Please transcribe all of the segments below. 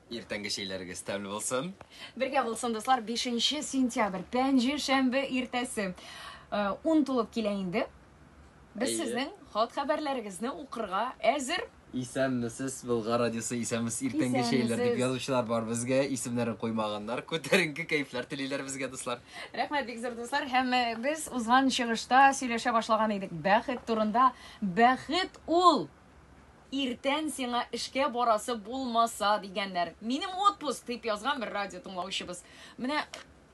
Иртәнге чәйләрегез тәмле булсын. Бергә булсын, дуслар, 5 сентябрь, пәнҗе шәмбе иртәсе. Э, ун тулып килә инде. Без сезнең хат хәбәрләрегезне укырга әзер. Исәнмесез, Болгар радиосы исәнмесез, иртәнге чәйләр дип язучылар бар безгә, исемнәрен куймаганнар. Күтәренке кәйфләр телиләр безгә, дуслар. Рәхмәт, бик зур дуслар. Һәм э, без узган чыгышта сөйләшә башлаган идек. Бәхет турында. Бәхет ул! Иртән сиңа эшкә барасы булмаса дигәннәр. Минем отпуск дип язган бер радио тыңлаучыбыз. Менә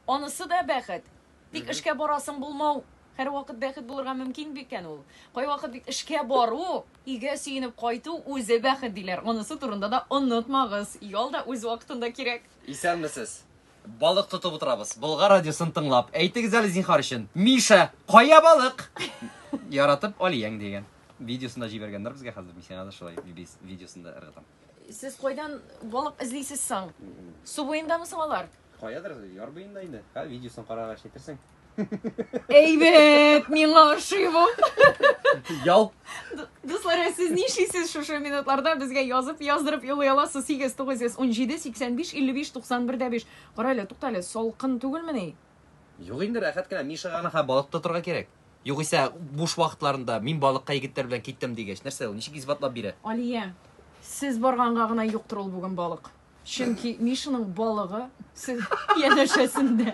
анысы да бәхет. Тик эшкә барасың булмау һәрвакыт бәхет булырга мөмкин бикән ул. Кайвакыт бит эшкә бару, өйгә сөенеп кайту үзе бәхет диләр. Анысы турында да онытмагыз. Ял да үз вакытында кирәк. Исәнмесез. Балык тотып утырабыз. Болгар радиосын тыңлап. Әйтегез әле зинхар өчен. Миша, кая балык? Яратып Алияң дигән. Видеосын да җибәргәннәр безгә хәзер. Мин сиңа да шулай видеосын да ыргытам. Сез кайдан балык эзлисез соң? Су буендамы соң алар? Каядыр яр буенда инде. Ха, видеосын карагач әйтерсең. Әйбәт, миңа ошый бу. Ял. Дуслар, ә сез нишлисез шушы минутларда безгә язып, яздырып юлый аласыз 8917 85 55 91 дә 5. Кара әле, тукта әле, салкын түгелмени? Юк инде, рәхәт кенә. Мишага гына хә балык тотарга кирәк. Югыйсә, буш вакытларында мин балыкка егетләр белән киттем дигәч, нәрсә ул? Ничек исбатлап бирә? Алия, сез барганга гына юктыр ул бүген балык. Чөнки Мишаның балыгы сез янәшәсендә.